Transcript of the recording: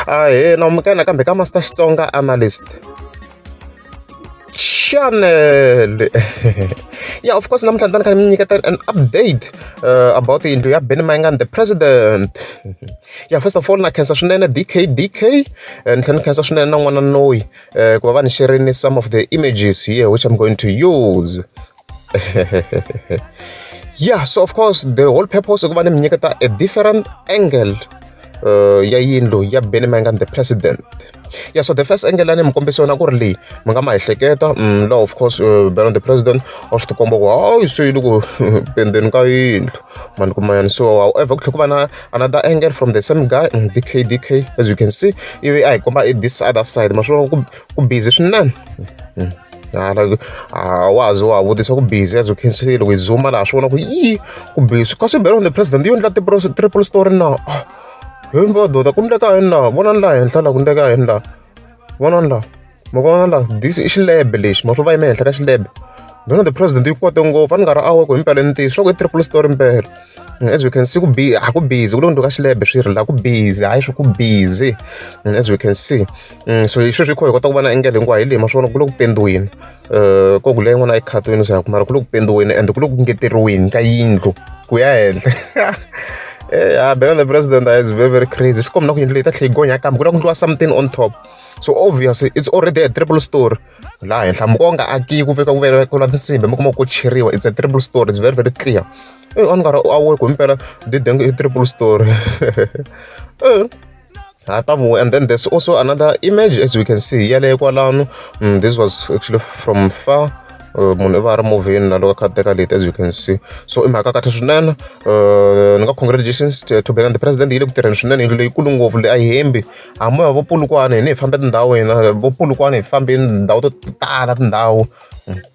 Ahee nomu ka hina kambe ka Master Xitsonga Analyst. Channel. yeah, of course namuntlha ni ta ni kha ni nyiketa an update uh, about yindlu ya Benny Mayengani the president. yeah, first of all na khensa swinene DK DK eh, ni tlhela ni khensa swinene na n'wana noyi eh, ku va va ni sharini some of the images here which I'm going to use. yeah so of course the whole purpose of ni mi nyiketa a different angle uh, ya yindlu ya benny mangan the president yeah so the first angle lani mi kombisa yona ku ri leyi mi nga ma ehleketa mm, law of course uh, beron the president wa swi tikomba ku hayi so yi loko pendeni ka yindlu mani ku mayani so however ku tlhe ku va na another angle from the same guy mm, dk dk as you can see ivi a hi komba i this other side ma swi vona ku ku busy swinene hala a wa ha ze wa ha vutisa ku busy as u khensirile ku yi zuma laha swi vona ku yi ku busy kasi belo on the president yo endla tipro- triple story na Ah, he mbododa ku ndleka yini laha vonani laha henhla laha ku ndleka yini laha vonani laha ma vona laha this i xilebe lexi ma swi va yime henhla ka xilebe belo on the president yi kote ngopfu a ni nga ri awe ku himpela i ntiyiso swa ku i triple story mpela Mm, as we can see ku bi a ku busy ku le ku ndleka xilebe swi ri laha ku busy hayi swi ku busy Mm, as we can see so hi sweswi hi kha hi kota ku vona engele hinkwayo hi leyi ma swi vona ku le ku pendiweni um ku ku leyi n'wana a yi khatiwini se ya ku mara ku le ku pendiweni ende ku le ku ngeteriweni ka yindlu ku ya henhla ya bela the president is very very crazy swi kombi na ku yindlu leyi ta tlhe yi gonya kambe ku la ku ndliwa something on top so obvious it's already a triple story laha henhla muko nga aki ku veka ku vela ku la tinsimbi mi kuma ku cheriwa it's a triple story it's very very clear e on nga ri awe ku mpela didenge i triple story ha ta vuya and then there's also another image as we can see yaleyo kwalano mm, this was actually from far uh, munhu i va a ri movhini na loko a kha teka leti as you can see so i mhaka kahle swinene uh, ni nga congratulations to bela the president yi le ku tirheni swinene yindlu leyikulu ngopfu leyi a yi hembi hambi va vopulukwana hi ni hi fambe tindhawu hina vopulukwana hi fambeni tindhawu to tala tindhawu mm.